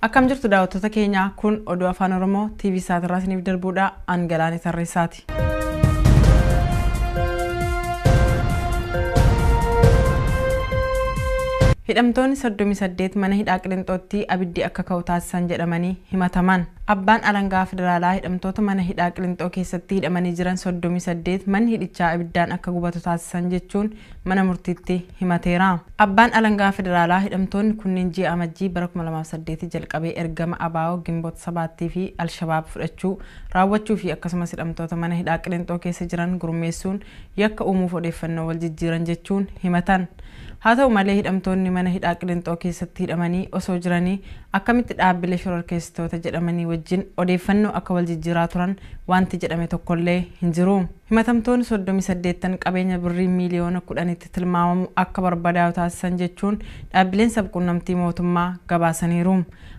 Akkam jirtu daawwattoota keenya kun oduu afaan Oromoo TV isaatiirraa isiniif darbuudha. An galaanee tarreessaati. Itoophiyaatti. Hidhamtoonni 38 mana hidhaa Qilinxootti abiddi akka ka'u taasisan jedhamanii himataman. Abbaan alangaa federaalaa hidhamtoota mana hidhaa Qilinxoo keessatti hidhamanii jiran 38 manni hidhichaa abiddaan akka gubatu taasisan jechuun mana murtiitti himateera. Abbaan alangaa federaalaa hidhamtoonni kunneen ji'a Amajjii bara 2008 jalqabee ergama ABO, Ginbot Sabaattii fi Alshabaab fudhachuu raawwachuu fi akkasumas hidhamtoota mana hidhaa Qilinxoo keessa jiran gurmeessuun yakka uumuuf odeeffannoo wal jijjiiran jechuun himatan. Haa ta'u malee hidhamtoonni mana hidhaa Qilinxoo keessatti hidhamanii osoo jiranii akkamitti dhaabbilee shororkeessitoota jedhamanii wajjin odeeffannoo akka wal jijjiiraa turan waanti jedhame tokkollee hin jiru. Himatamtoonni 38'n qabeenya birrii miiliyoona 10'tti tilmaamamu akka barbadaa'u taasisan jechuun dhaabbileen sab-quunnamtii mootummaa gabaasaniiru.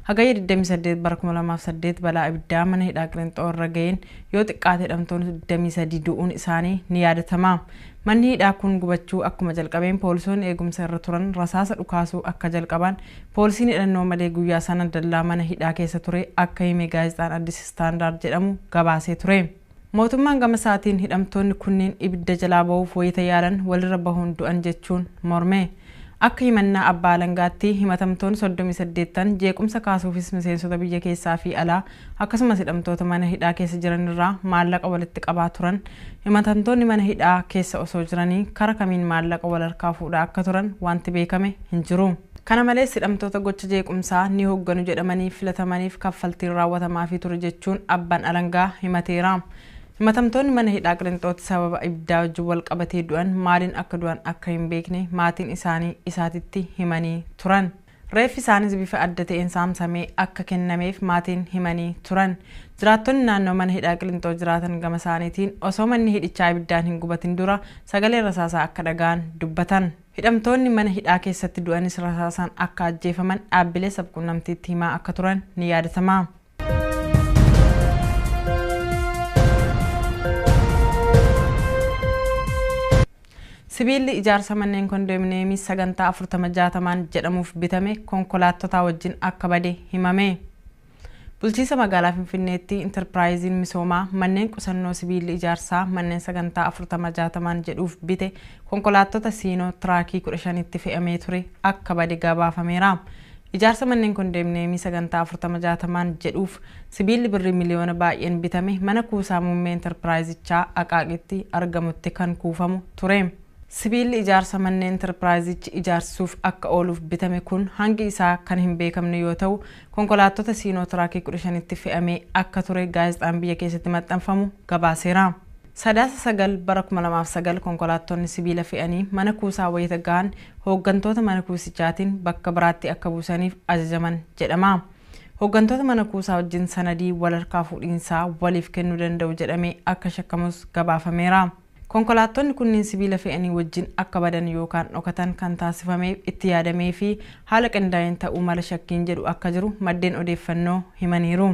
Hagayya 28 bara 2008 balaa ibiddaa mana hidhaa Qilinxoo irra ga'een yoo xiqqaate hidhamtoonni 23 du'uun isaanii ni yaadatama. Manni hidhaa kun gubachuu akkuma jalqabeen poolisoonni eegumsa irra turan rasaasa dhukaasuu akka jalqabaan poolisiin hidhannoo malee guyyaa sana dallaa mana hidhaa keessa ture akka hime gaazexaan Addis Standard jedhamu gabaasee ture. Mootummaan gama isaatiin hidhamtoonni kunniin ibidda jalaa bahuuf wayita yaalan walirra bahuun du'an jechuun morme. Akka himannaa abbaa alangaatti himatamtoonni soddomii saddeet ta'an jeequmsa kaasuufis miseensota biyya keessaa fi alaa akkasumas hidhamtoota mana hidhaa keessa jiran irraa maallaqa walitti qabaa turan. Himatantoonni mana hidhaa keessa osoo jiranii kara kamiin maallaqa wal harkaa fuudhaa akka turan wanti beekame hin jiru. Kana malees hidhamtoota gocha jeequmsaa ni hogganu jedhamanii filatamaniif kaffaltiin raawwatamaafii ture jechuun Abbaan Alangaa himateera. Himatamtoonni mana hidhaa Qilinxootti sababa ibiddaa wajjin wal qabatee du'an maaliin akka du'an akka hin beekne maatiin isaanii isaatitti himanii turan. Reeffi isaaniis bifa adda ta'een saamsamee akka kennameef maatiin himanii turan. Jiraattonni naannoo mana hidhaa Qilinxoo jiraatan gama isaaniitiin osoo manni hidhichaa ibiddaan hin gubatin dura sagalee rasaasaa akka dhaga'an dubbatan. Hidhamtoonni mana hidhaa keessatti du'anis rasaasaan akka ajjeefaman dhaabbilee sabquunnamtiitti himaa akka turan ni yaadatama. Sibiilli ijaarsa manneen kondoominiyeemii sagantaa 40 60n jedhamuuf bitame konkolaattotaa wajjin akka bade himame. Bulchiinsa Magaalaa Finfinneetti Intarpiraayiziin Misoomaa manneen qusannoo sibiilli ijaarsaa manneen sagantaa 40 60n jedhuuf bite konkolaattota Siinoo tiraakii 15tti fe'amee ture akka bade gabaafameera. Ijaarsa manneen kondeemneemii sagantaa 40 60n jedhuuf sibiilli birrii miliyoona baay'een bitame mana kuusaa muummee Intarpiraayizichaa Aqaaqitti argamutti kan kuufamu ture. Sibiilli ijaarsa manneen Intarpiraayizichi ijaarsisuuf akka ooluuf bitame kun hangi isaa kan hin beekamne yoo ta'u, konkolaattota Siinootiraakii 15tti fe'amee akka ture gaazexaan biyya keessatti maxxanfamu gabaaseera. Sadaasa 9 bara 2009 konkolaattonni sibiila fe'anii mana kuusaa wayita gahan hooggantoota mana kuusichaatiin bakka biraatti akka buusaniif ajajaman jedhama. Hooggantoota mana kuusaa wajjin sanadii wal harkaa fuudhiinsaa waliif kennuu danda'u jedhamee akka shakkamus gabaafameera. Konkolaattonni kunniin sibiila fe'anii wajjin akka badan yookaan dhokatan kan taasifameef, itti yaadamee fi haala qindaa'een ta'uu mala shakkiin jedhu akka jiru maddeen odeeffannoo himaniiru.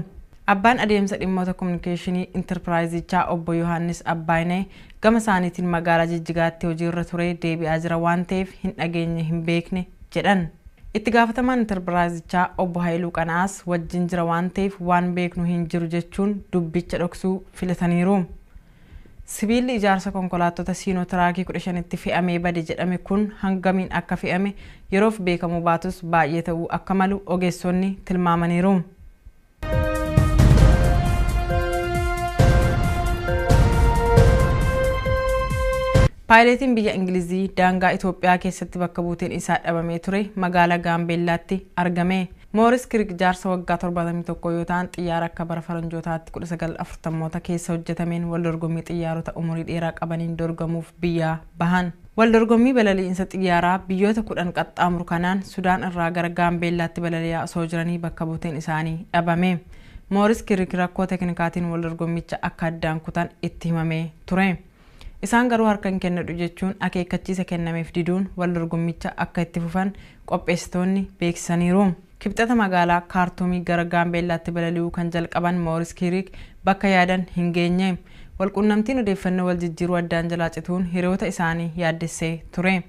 Abbaan adeemsa dhimmoota komunikeeshinii Intarpiraayizichaa Obbo Yohaannis Abbaayineh gama isaaniitiin magaalaa Jijjigaatti hojiirra turee deebi'aa jira waan ta'eef hin dhageenye hin beekne jedhan. Itti gaafatamaan Intarpiraayizichaa Obbo Hayiluu Qana'aas wajjin jira waan ta'eef waan beeknu hin jiru jechuun dubbicha dhoksuu filataniiru. Sibiilli ijaarsa konkolaattota Siinoo Tiraakii 15tti fe'amee bade jedhame kun hangamiin akka fe'ame yeroof beekamuu baatus baay'ee ta'uu akka malu ogeessonni tilmaamaniiru. Paayileetiin biyya Ingilizii daangaa Itoophiyaa keessatti bakka buuteen isaa dhabamee ture magaalaa Gaambeellaatti argame. Mooris Kirk jaarsa waggaa 71 yoo ta'an, xiyyaara akka bara faranjootaatti 1940moota keessa hojjetameen waldorgommii xiyyaarota umurii dheeraa qabaniin dorgamuuf biyyaa bahan. Waldorgommii balali'insa xiyyaaraa biyyoota 10 qaxxaamuru kanaan Sudaan irraa gara Gaambeellaatti balali'aa osoo jiranii bakka buuteen isaanii dhabame. Mooris Kirk rakkoo teknikaatiin waldorgommicha akka addaan kutan itti himamee ture. Isaan garuu harka hin kennadhu jechuun akeekkachiisa kennameef diduun wal dorgommicha akka itti fufan qopheessitoonni beeksisaniiru. Kibxata magaalaa Kaartuumii gara Gaambeellaatti balali'uu kan jalqaban Mooris Kiiriik bakka yaadan hin geenye. Wal quunnamtiin odeeffannoo wal jijjiiruu addaan jalaa cituun hiriyoota isaanii yaaddessee ture.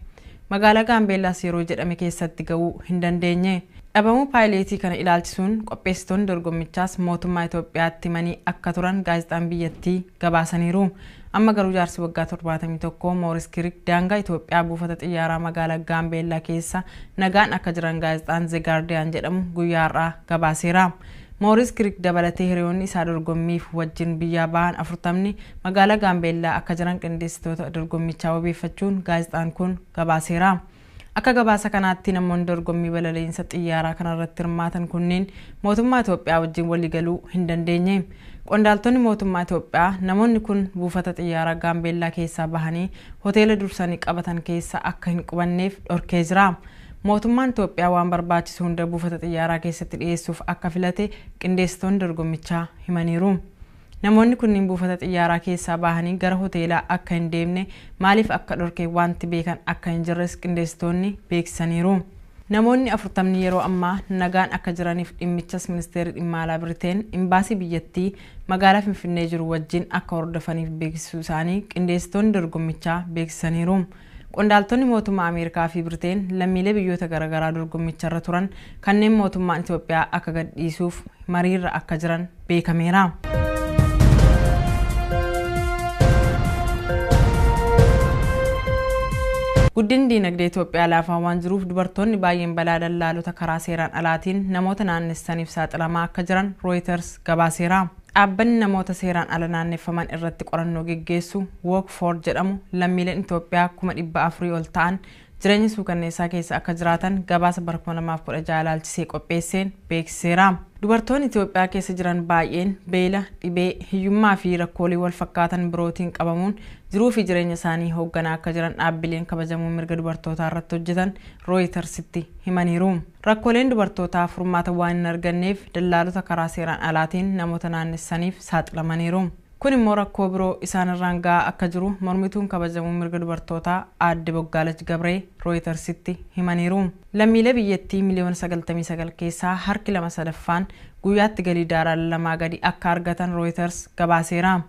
Magaalaa Gaambeellaas yeroo jedhame keessatti ga'uu hin dandeenye. Dhabamuu paayileetii kana ilaalchisuun qopheessitoonni dorgommichaas mootummaa Itoophiyaatti himanii akka turan gaazexaan biyyattii gabaasaniiru. Amma garuu jaarsi waggaa 71 Mooris Kirik daangaa Itoophiyaa buufata xiyyaaraa magaala Gaambeellaa keessa nagaan akka jiran gaazexaan Ze Gaardiyaan jedhamu guyyaa har'aa gabaaseera. Mooris Kirik dabalatee hiriyoonni isaa dorgommiif wajjin biyyaa bahan 40ni magaala Gaambeellaa akka jiran qindeessitoota dorgommichaa wabeeffachuun gaazexaan kun gabaaseera. Akka gabaasa kanaatti namoonni dorgommii balaliinsa xiyyaaraa kanarratti hirmaatan kunniin mootummaa Itoophiyaa wajjin waliigaluu hin dandeenye. Qondaaltonni mootummaa Itoophiyaa namoonni kun buufata xiyyaaraa Gaambeellaa keessaa bahanii hoteela dursanii qabatan keessa akka hin qubanneef dhorkee jira. Mootummaan Itoophiyaa waan barbaachisu hunda buufata xiyyaaraa keessatti dhiyeessuuf akka filate qindeessitoonni dorgommichaa himaniiru. Namoonni kunniin buufata xiyyaaraa keessaa bahanii gara hoteelaa akka hin deemne maaliif akka dhorke waanti beekan akka hin jirres qindeessitoonni beeksisaniiru. Namoonni afurtamni yeroo ammaa nagaan akka jiraniif dhimmichas Ministeerri Dhimma Alaa Biriteen Imbaasii biyyattii magaalaa Finfinnee jiru wajjin akka hordofaniif beeksisuu isaanii qindeessitoonni dorgommichaa beeksisaniiru. Qondaaltonni mootummaa Ameerikaa fi Briteen lammiilee biyyoota garagaraa dorgommicharra turan kanneen mootummaan Itoophiyaa akka gadhiisuuf mariirra akka jiran beekameera. Guddinni diinagdee Itoophiyaa laafaa waan jiruuf dubartoonni baay'een balaa dallaalota karaa seeraan alaatiin namoota naannessaniif saaxilamaa akka jiran Rooyiters gabaaseera. Dhaabbanni namoota seeraan ala naanneffaman irratti qorannoo geggeessu Walk For jedhamu lammiileen Itoophiyaa kuma 400 ol ta'an jireenya suukanneessaa keessa akka jiraatan gabaasa bara 2016 ilaalchisee qopheesseen beeksiseera. Dubartoonni Itoophiyaa keessa jiran baay'een beela, dhibee, hiyyummaa fi rakkoolee wal fakkaatan birootiin qabamuun jiruu fi jireenya isaanii hoogganaa akka jiran dhaabbileen kabajamoo mirga dubartootaa irratti hojjetan Rooyitarsitti himaniiru. Rakkooleen dubartootaa furmaata waan hin arganneef dallaalota karaa seeraan alaatiin namoota naannessaniif saaxilamaniiru. Kun immoo rakkoo biroo isaan irraan ga'aa akka jiru mormituun kabajamuu mirga dubartootaa aadde Boggaalach Gabree Rooyitarsitti himaniiru. Lammiilee biyyattii miliyoona sagaltamii sagal keessaa harki lama sadaffaan guyyaatti galii daarala lamaa gadi akka argatan Rooyitars gabaaseera.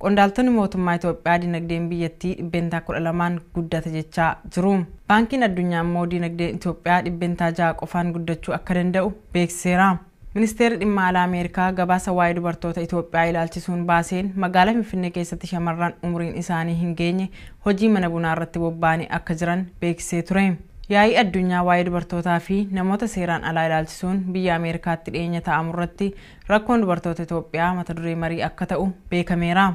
Qondaaltonni mootummaa Itoophiyaa dinagdeen biyyattii dhibbeentaa 12n guddate jechaa jiru. Baankiin Addunyaa immoo dinagdeen Itoophiyaa dhibbeentaa 6 qofaan guddachuu akka danda'u beeksiseera. Ministeerri Dhimma Alaa Ameerikaa gabaasa waa'ee dubartoota Itoophiyaa ilaalchisuun baaseen magaala Finfinnee keessatti shamarran umuriin isaanii hin geenye hojii mana bunaa irratti bobba'anii akka jiran beeksisee ture. Yaa'ii addunyaa waa'ee dubartootaa fi namoota seeraan alaa ilaalchisuun biyya Ameerikaatti dhiyeenya taa'amu irratti Rakkoon dubartoota Itoophiyaa mata duree marii akka ta'u beekameera.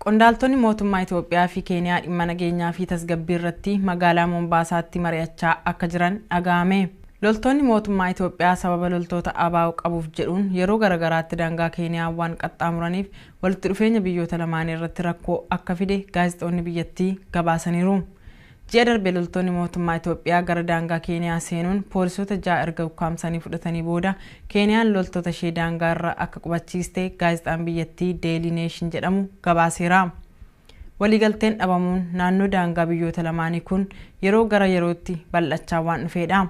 Qondaaltonni mootummaa Itoophiyaa fi Keeniyaa dhimma nageenyaa fi tasgabbii irratti magaalaa Moombaasaatti mari'achaa akka jiran dhaga'ame. Loltoonni mootummaa Itoophiyaa sababa loltoota ABO qabuuf jedhuun yeroo garagaraatti daangaa Keeniyaa waan qaxxaamuraniif walitti dhufeenya biyyoota lamaanii irratti rakkoo akka fide gaazexoonni biyyattii gabaasaniiru. Ji'a darbe loltoonni mootummaa Itoophiyaa gara daangaa Keeniyaa seenuun poolisoota ja'a erga ukkaamsanii fudhatanii booda Keeniyaan loltoota ishee daangaa irra akka qubachiiste gaazexaan biyyattii Daily Nation jedhamu gabaaseera. Waliigalteen dhabamuun naannoo daangaa biyyoota lamaanii kun yeroo gara yerootti bal'achaa waan dhufeedha.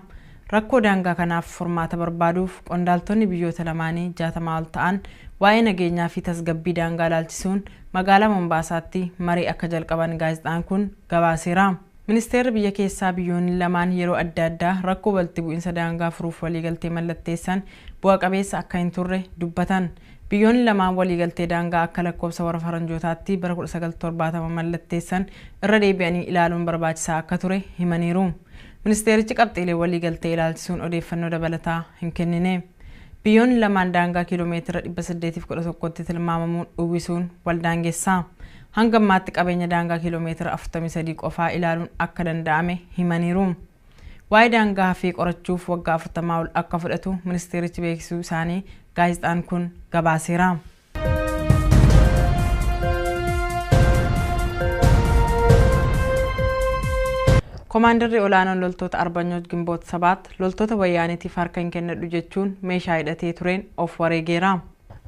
Rakkoo daangaa kanaaf furmaata barbaaduuf qondaaltonni biyyoota lamaanii jaatamaa ol ta'an waa'ee nageenyaa fi tasgabbii daangaa ilaalchisuun magaalaa Mombaasaatti marii akka jalqaban gaazexaan kun gabaaseera. Ministeerri biyya keessaa biyyoonni lamaan yeroo adda addaa rakkoo walitti bu'insa daangaa furuuf waliigaltee mallatteessan bu'a qabeessa akka hin turre dubbatan. Biyyoonni lamaan waliigaltee daangaa akka lakkoofsa warra faranjootaatti bara 1970 mallatteessan irra deebi'anii ilaaluun barbaachisaa akka ture himaniiru. Ministeerichi qabxiilee waliigaltee ilaalchisuun odeeffannoo dabalataa hin kennine. Biyyoonni lamaan daangaa kiiloomeetira 811tti tilmaamamu uwwisuun waldaangessa. Hanga ammaatti qabeenya daangaa kiiloomeetira 43 qofaa ilaaluun akka danda'ame himaniiru. Waa'ee daangaa hafee qorachuuf waggaa 40 ol akka fudhatu ministeerichi beeksisuu isaanii gaazexaan kun gabaaseera. Komaandarri olaanoon loltoota Arbanyoot Gimboot Sabaat loltoota wayyaanitiif harka hin kennadhu jechuun meeshaa hidhatee tureen of wareegeera.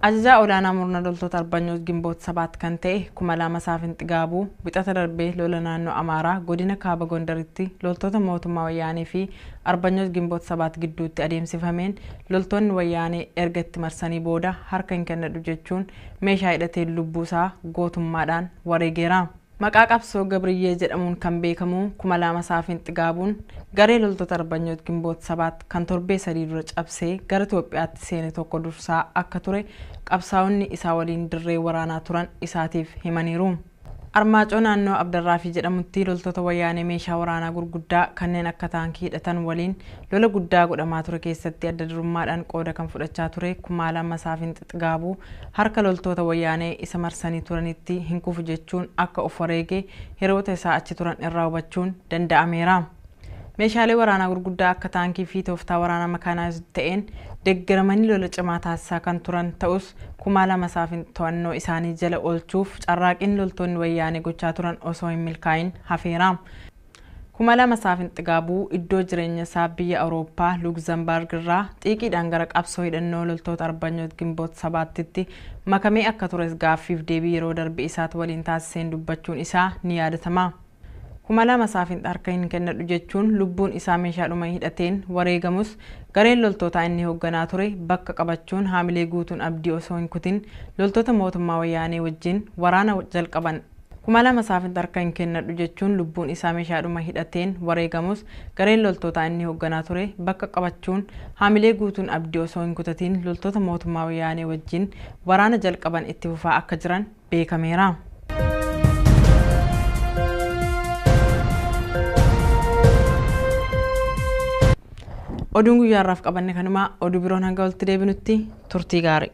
Ajajaa olaanaa murna loltoota Arbanyoot Gimboot Sabaat kan ta'e Kumalaama Saafin Xigaabuu wixata darbee lola naannoo Amaaraa godina Kaaba Gondaritti loltoota mootummaa wayyaanee fi Arbanyooch Ginboot Sabaat gidduutti adeemsifameen loltoonni Wayyaanee erga itti marsanii booda harka hin kennadhu jechuun meeshaa hidhateen lubbuu isaa gootummaadhaan wareegeera. Maqaa qabsoo Gabriyyee jedhamuun kan beekamu Kumalaama Saafin Xigaabuun garee loltoota Arbanyooch Ginboot Sabaat kan torbee sadii dura cabsee gara Itoophiyaatti seene tokko dursaa akka ture qabsaa'onni isaa waliin dirree waraanaa turan isaatiif himaniiru. Armaacoo naannoo Abdarraafii jedhamutti loltoota Wayyaanee meeshaa waraanaa gurguddaa kanneen akka taankii hidhatan waliin lola guddaa godhamaa ture keessatti adda durummaadhaan qooda kan fudhachaa ture Kumaala Masaafin Xixigaabuu harka loltoota Wayyaanee isa marsanii turanitti hin kufu jechuun akka of wareege hiroota isaa achi turan irraa hubachuun danda'ameera. Meeshaalee waraanaa gurguddaa akka taankii fi tooftaa waraanaa makaanaayizd ta'een deggeramanii lola cimaa taasisaa kan turan ta'us, kumaa lama isaaf to'annoo isaanii jala oolchuuf carraaqiin loltoonni Wayyaanee gochaa turan osoo hin milkaa'iin hafeera. Kumalama isaaf Xigaabuu iddoo jireenya isaa biyya Awurooppaa Luugzambaarg irraa xiiqiidhaan gara qabsoo hidhannoo loltoota Arbanyoot Gimboot Sabaattitti makamee akka tures gaaffiif deebii yeroo darbe isaat waliin taasiseen dubbachuun isaa ni yaadatama. kuma lama isaaf hin harka hin kennadhu jechuun lubbuun isaa meeshaadhuma hidhateen wareegamus gareen loltootaa inni hoogganaa ture bakka qabachuun haamilee guutuun abdii osoo hin kutin loltoota mootummaa wayyaanee wajjin waraana jalqaban. Kuma lama isaaf hin harka hin kennadhu jechuun lubbuun isaa meeshaadhuma hidhateen wareegamus gareen loltootaa inni hoogganaa ture bakka qabachuun haamilee guutuun abdii osoo hin kutatiin loltoota mootummaa wayyaanee wajjin waraana jalqaban itti fufaa akka jiran beekameera. Oduun guyyaa har'aaf qabanne kanuma oduu biroon hanga walitti deebinutti turtii gaarii.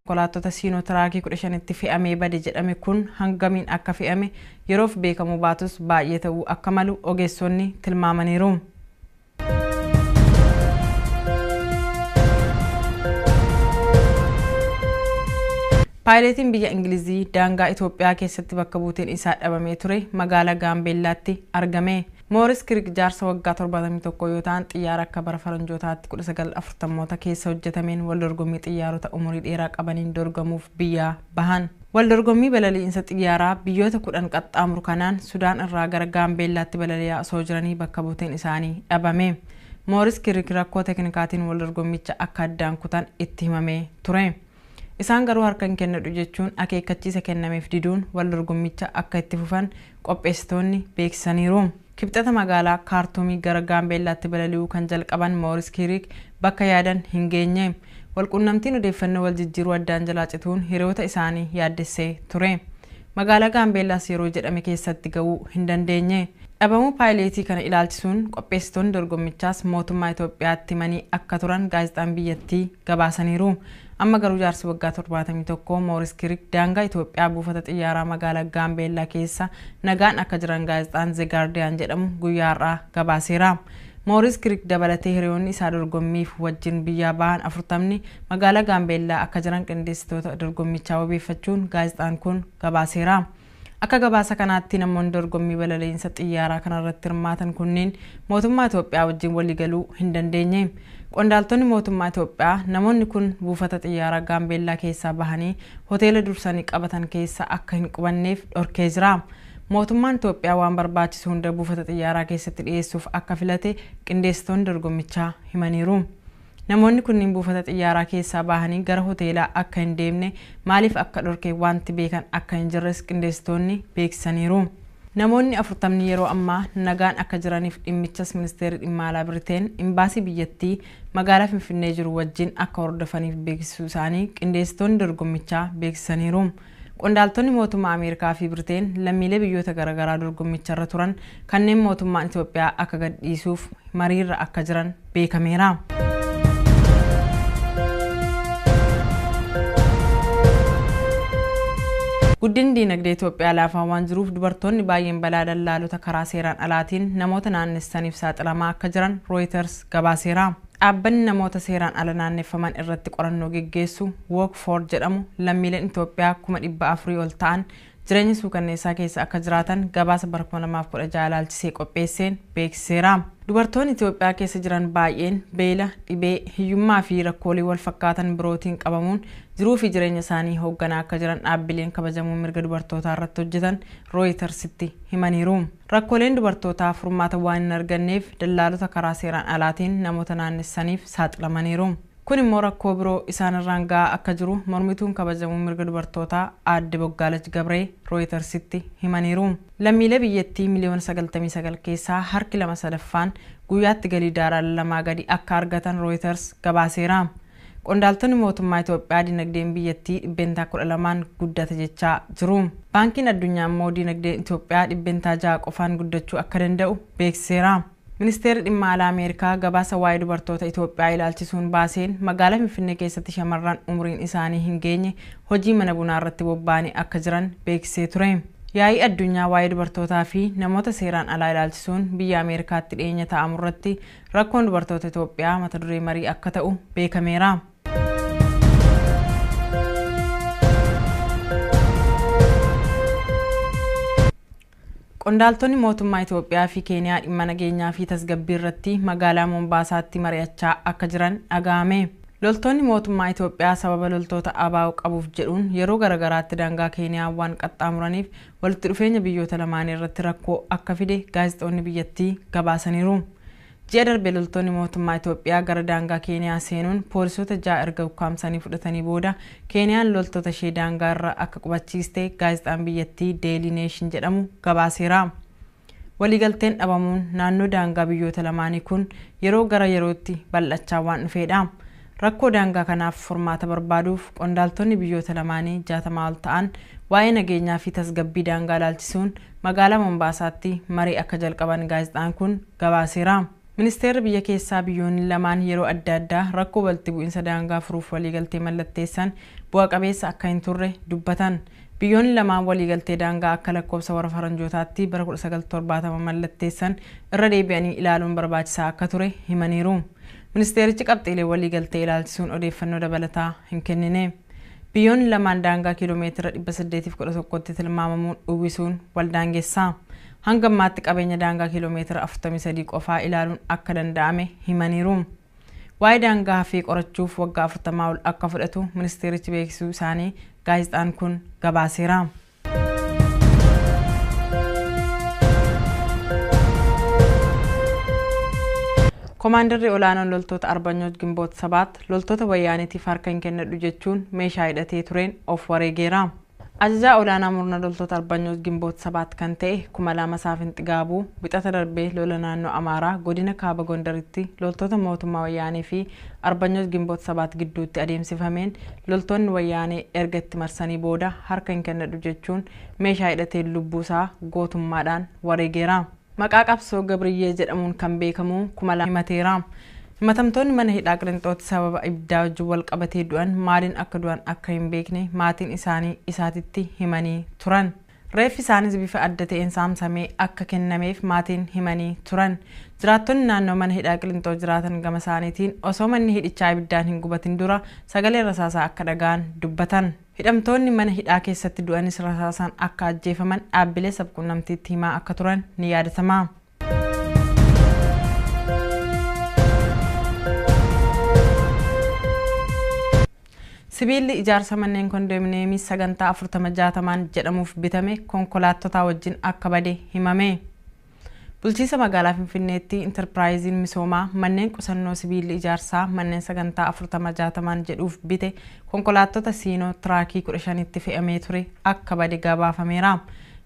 konkolaattota siinootiraakii 15tti fe'amee bade jedhame kun hangamiin akka fe'ame yeroof beekamuu baatus baay'ee ta'uu akka malu ogeessonni tilmaamaniiru. Paayileetiin biyya Ingilizii daangaa Itoophiyaa keessatti bakka buuteen isaa dhabamee ture magaalaa Gaambeellaatti argame. Mooris Kirik jaarsa waggaa 71 yoo ta'an xiyyaara akka bara faranjootaatti 1940moota keessa hojjetameen wal dorgommii xiyyaarota umurii dheeraa qabaniin dorgamuuf biyyaa bahan. Wal dorgommii balali'insa xiyyaaraa biyyoota kudhan qaxxaamuru kanaan Sudaan irraa gara Gaambeellaatti balali'aa osoo jiranii bakka buuteen isaanii dhabame. Mooris Kirik rakkoo teknikaatiin wal dorgommicha akka addaan kutan itti himamee ture. Isaan garuu harka hin kennadhu jechuun akeekkachiisa kennameef diduun wal dorgommicha akka itti fufan qopheessitoonni beeksisaniiru. Kibxata magaalaa Kaartuumii gara Gaambeellaatti balali'uu kan jalqaban Mooris Kiiriik bakka yaadan hin geenye. Walquunnamtiin odeeffannoo wal jijjiiruu addaan jalaa cituun hiriyoota isaanii yaaddessee ture. Magaalaa Gaambeellaas yeroo jedhame keessatti ga'uu hin dandeenye. Dhabamuu paayileetii kana ilaalchisuun qopheessitoonni dorgommichaas mootummaa Itoophiyaatti himanii akka turan gaazexaan biyyattii gabaasaniiru. Amma garuu jaarsi waggaa 71 Mooris Kirik daangaa Itoophiyaa buufata xiyyaaraa magaalaa Gaambeellaa keessa nagaan akka jiran gaazexaan The Guardian jedhamu guyyaa har'aa gabaaseera. Mooris Kirik dabalatee hiriyoonni isaa dorgommiif wajjin biyyaa bahan afurtamni magaalaa Gaambeellaa akka jiran qindeessitoota dorgommichaa wabeeffachuun gaazexaan kun gabaaseera. Akka gabaasa kanaatti namoonni dorgommii balaliinsa xiyyaaraa kanarratti hirmaatan kunniin mootummaa Itoophiyaa wajjin waliigaluu hin dandeenye. Qondaaltonni mootummaa Itoophiyaa namoonni kun buufata xiyyaaraa Gaambeellaa keessaa bahanii hoteela dursanii qabatan keessa akka hin qubanneef dhorkee jira. Mootummaan Itoophiyaa waan barbaachisu hunda buufata xiyyaaraa keessatti dhiyeessuuf akka filate qindeessitoonni dorgommichaa himaniiru. Namoonni kunniin buufata xiyyaaraa keessaa bahanii gara hoteelaa akka hin deemne maaliif akka dhorke waanti beekan akka hin jirres qindeessitoonni beeksisaniiru. Namoonni afurtamni yeroo ammaa nagaan akka jiraniif dhimmichas Ministeerri Dhimma Alaa Biriteen Imbaasii biyyattii magaalaa Finfinnee jiru wajjin akka hordofaniif beeksisuu isaanii qindeessitoonni dorgommichaa beeksisaniiru. Qondaaltonni mootummaa Ameerikaa fi Briteen lammiilee biyyoota garagaraa dorgommicharra turan kanneen mootummaan Itoophiyaa akka gadhiisuuf mariirra akka jiran beekameera. Guddinni diinagdee Itoophiyaa laafaa waan jiruuf dubartoonni baay'een balaa dallaalota karaa seeraan alaatiin namoota naannessaniif saaxilamaa akka jiran Rooyiters gabaaseera. Dhaabbanni namoota seeraan ala naanneffaman irratti qorannoo geggeessu Walk For jedhamu lammiileen Itoophiyaa kuma 400 ol ta'an jireenya suukanneessaa keessa akka jiraatan gabaasa bara 2016 ilaalchisee qopheesseen beeksiseera. Dubartoonni Itoophiyaa keessa jiran baay'een beela, dhibee, hiyyummaa fi rakkoolee wal fakkaatan birootiin qabamuun jiruu fi jireenya isaanii hoogganaa akka jiran dhaabbileen kabajamoo mirga dubartootaa irratti hojjetan Rooyitarsitti himaniiru. Rakkooleen dubartootaa furmaata waan hin arganneef dallaalota karaa seeraan alaatiin namoota naannessaniif saaxilamaniiru. Kun immoo rakkoo biroo isaan irraan ga'aa akka jiru mormituun kabajamuu mirga dubartootaa aadde Boggaalach Gabree Rooyitarsitti himaniiru. Lammiilee biyyattii miliyoona sagaltamii sagal keessaa harki lama sadaffaan guyyaatti galii daarala lamaa gadi akka argatan Rooyitars gabaaseera. Qondaaltonni mootummaa Itoophiyaa dinagdeen biyyattii dhibbeentaa 12n guddate jechaa jiru. Baankiin Addunyaa immoo dinagdeen Itoophiyaa dhibbeentaa 6 qofaan guddachuu akka danda'u beeksiseera. Ministeerri Dhimma Alaa Ameerikaa gabaasa waa'ee dubartoota Itoophiyaa ilaalchisuun baaseen magaalaa Finfinnee keessatti shamarran umuriin isaanii hin geenye hojii mana bunaa irratti bobba'anii akka jiran beeksisee ture. Yaa'ii addunyaa waa'ee dubartootaa fi namoota seeraan alaa ilaalchisuun biyya Ameerikaatti dhiyeenya taa'amu irratti Rakkoon dubartoota Itoophiyaa mata duree marii akka ta'u beekameera. Qondaaltonni mootummaa Itoophiyaa fi Keeniyaa dhimma nageenyaa fi tasgabbii irratti magaalaa Mombaasaatti mari'achaa akka jiran dhaga'ame. Loltoonni mootummaa Itoophiyaa sababa loltoota ABO qabuuf jedhuun yeroo garagaraatti daangaa Keeniyaa waan qaxxaamuraniif walitti dhufeenya biyyoota lamaanii irratti rakkoo akka fide gaazexoonni biyyattii gabaasaniiru. Ji'a darbe loltoonni mootummaa Itoophiyaa gara daangaa Keeniyaa seenuun poolisoota ja'a erga ukkaamsanii fudhatanii booda Keeniyaan loltoota ishee daangaa irra akka qubachiiste gaazexaan biyyattii Daily Nation jedhamu gabaaseera. Waliigalteen dhabamuun naannoo daangaa biyyoota lamaanii kun yeroo gara yerootti bal'achaa waan dhufeedha. Rakkoo daangaa kanaaf furmaata barbaaduuf qondaaltonni biyyoota lamaanii jaatamaa ol ta'an waa'ee nageenyaa fi tasgabbii daangaa ilaalchisuun magaalaa Mombaasaatti marii akka jalqaban gaazexaan kun gabaaseera. Ministeerri biyya keessaa biyyoonni lamaan yeroo adda addaa rakkoo walitti bu'insa daangaa furuuf waliigaltee mallatteessan bu'a qabeessa akka hin turre dubbatan. Biyyoonni lamaan waliigaltee daangaa akka lakkoofsa warra faranjootaatti bara 1970 mallatteessan irra deebi'anii ilaaluun barbaachisaa akka ture himaniiru. Ministeerichi qabxiilee waliigaltee ilaalchisuun odeeffannoo dabalataa hin kennine. Biyyoonni lamaan daangaa kiiloomeetira 811tti tilmaamamu uwwisuun wal daangessa. Hanga ammaatti qabeenya daangaa kiiloomeetira 43 qofaa ilaaluun akka danda'ame himaniiru. Waa'ee daangaa hafee qorachuuf waggaa 40 ol akka fudhatu ministeerichi beeksisuu isaanii gaazexaan kun gabaaseera. Komaandarri olaanoon loltoota Arbanyoot Gimboot Sabaat loltoota wayyaanitiif harka hin kennadhu jechuun meeshaa hidhatee tureen of wareegeera. Ajajaa olaanaa murna loltoota Arbanyoot Gimboot Sabaat kan ta'e Kumalaama Saafin Xigaabuu wixata darbee lola naannoo Amaaraa godina Kaaba Gondaritti loltoota mootummaa wayyaanee fi Arbanyooch Ginboot Sabaat gidduutti adeemsifameen loltoonni Wayyaanee erga itti marsanii booda harka hin kennadhu jechuun meeshaa hidhateen lubbuu isaa gootummaadhaan wareegeera. Maqaa qabsoo Gabriyyee jedhamuun kan beekamu kuma lama himateera. Himatamtoonni mana hidhaa Qilinxootti sababa ibiddaa wajjin wal qabatee du'an maaliin akka du'an akka hin beekne maatiin isaanii isaatitti himanii turan. Reeffi isaaniis bifa adda ta'een saamsamee akka kennameef maatiin himanii turan. Jiraattonni naannoo mana hidhaa Qilinxoo jiraatan gama isaaniitiin osoo manni hidhichaa ibiddaan hin gubatin dura sagalee rasaasaa akka dhaga'an dubbatan. Hidhamtoonni mana hidhaa keessatti du'anis rasaasaan akka ajjeefaman dhaabbilee sabquunnamtiitti himaa akka turan ni yaadatama. Sibiilli ijaarsa manneen kondominiyeemii sagantaa afurtama jaatamaan jedhamuuf bitame konkolaattotaa wajjin akka bade himame. Bulchiinsa magaalaa Finfinneetti intarpiraayiziin misoomaa manneen qusannoo sibiilli ijaarsaa manneen sagantaa afurtama jaatamaan jedhuuf bite konkolaattota siinoo tiraakii kudha shanitti fe'amee ture akka bade gabaafameera.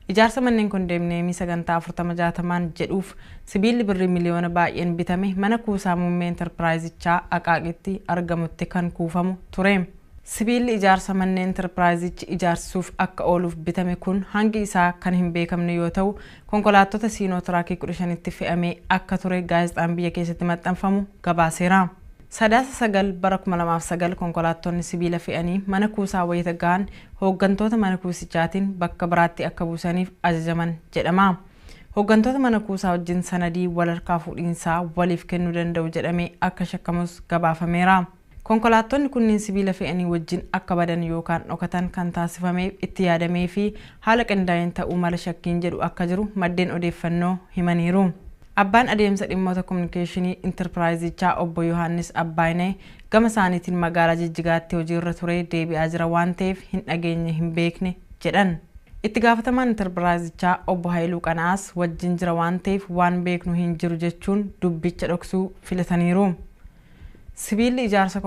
Ijaarsa manneen kondeemniyeemii sagantaa 40 60n jedhuuf sibiilli birrii miliyoona baay'een bitame mana kuusaa muummee Interpiraayizichaa Aqaaqitti argamutti kan kuufamu ture. Sibiilli ijaarsa manneen Interpiraayizichi ijaarsisuuf akka ooluuf bitame kun hangi isaa kan hin beekamne yoo ta'u, konkolaattota Siinoo Tiraakii 15tti fe'amee akka ture gaazexaan biyya keessatti maxxanfamu gabaaseera. Sadaasa 9 bara 2009 konkolaattonni sibiila fe'anii mana kuusaa wayita gahan hooggantoota mana kuusichaatiin bakka biraatti akka buusaniif ajajaman jedhama. Hooggantoota mana kuusaa wajjin sanadii wal harkaa fuudhiinsaa waliif kennuu danda'u jedhamee akka shakkamus gabaafameera. Konkolaattonni kunniin sibiila fe'anii wajjin akka badan yookaan dhokatan kan taasifameef itti yaadameefi haala qindaa'een ta'uu mala shakkiin jedhu akka jiru maddeen odeeffannoo himaniiru. Abbaan Adeemsa Dhimmoota Kominikeeshinii Intarpiraayizichaa Obbo Yohaannis Abbaayineh gama isaaniitiin magaalaa Jijjigaatti hojiirra turee deebi'aa jira waan ta'eef hin dhageenye hin beekne jedhan. Itti gaafatamaan Intarpiraayizichaa Obbo Hayiluu Qana'aas wajjin jira waan ta'eef waan beeknu hin jiru jechuun dubbicha dhoksuu filataniiru. Sibiilli ijaarsa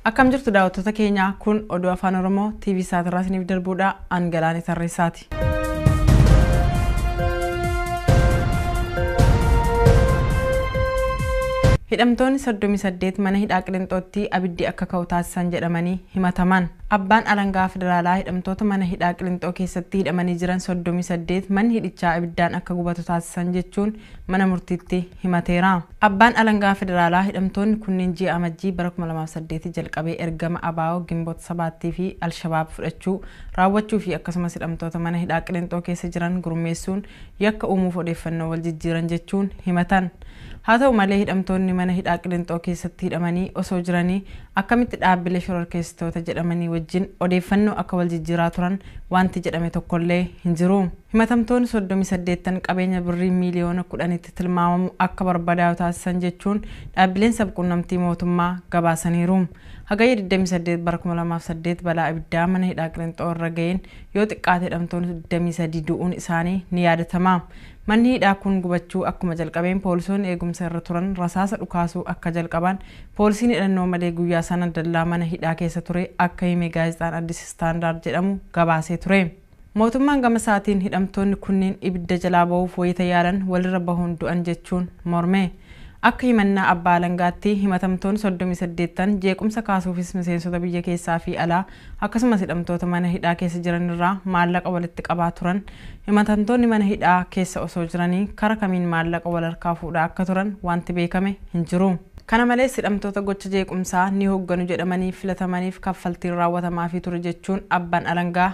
Akkam jirtu daawwattoota keenya kun oduu afaan Oromoo TV Saatirraa isiniif darbuudha. An Galaanee Tarreessaati. Oromiyaatti. Hidhamtoonni 38 mana hidhaa Qilinxootti abiddi akka ka'u taasisan jedhamanii himataman. Abbaan alangaa federaalaa hidhamtoota mana hidhaa Qilinxoo keessatti hidhamanii jiran 38 manni hidhichaa abiddaan akka gubatu taasisan jechuun mana murtiitti himateera. Abbaan Alangaa Federaalaa hidhamtoonni kunneen ji'a Amajjii bara 2008 jalqabee ergama abo, Ginbot Sabaattii fi Alshabaab fudhachuu, raawwachuu fi akkasumas hidhamtoota mana hidhaa Qilinxoo keessa jiran gurmeessuun yakka uumuuf odeeffannoo wal jijjiiran jechuun himatan. Haa ta'u malee hidhamtoonni mana hidhaa Qilinxoo keessatti hidhamanii osoo jiranii Akkamitti dhaabbilee shororkeessitoota jedhamanii wajjin odeeffannoo akka wal jijjiiraa turan waanti jedhame tokkollee hin jiru. Himatamtoonni 38'n qabeenya birrii miiliyoona 10'tti tilmaamamu akka barbadaa'u taasisan jechuun dhaabbileen sab-quunnamtii mootummaa gabaasaniiru. Hagayya 28 bara 2008 balaa ibiddaa mana hidhaa Qilinxoo irra ga'een yoo xiqqaate hidhamtoonni 23 du'uun isaanii ni yaadatama. Manni hidhaa kun gubachuu akkuma jalqabeen poolisoonni eegumsa irra turan rasaasa dhukaasuu akka jalqabaan poolisiin hidhannoo malee guyyaa sana dallaa mana hidhaa keessa ture akka hime gaazexaan Addis Standard jedhamu gabaasee ture. Mootummaan gama isaatiin hidhamtoonni kunniin ibidda jalaa bahuuf wayita yaalan walirra bahuun du'an jechuun morme. Akka himannaa abbaa alangaatti himatamtoonni soddomii saddeet ta'an jeequmsa kaasuufis miseensota biyya keessaa fi alaa Akkasumas hidhamtoota mana hidhaa keessa jiran irraa maallaqa walitti qabaa turan, himatantoonni mana hidhaa keessa osoo jiranii kara kamiin maallaqa wal harkaa fuudhaa akka turan waanti beekame hin jiru. Kana malees hidhamtoota gocha jeequmsaa ni hogganu jedhamanii filatamaniif kaffaltiin raawwatamaafii ture jechuun abban alangaa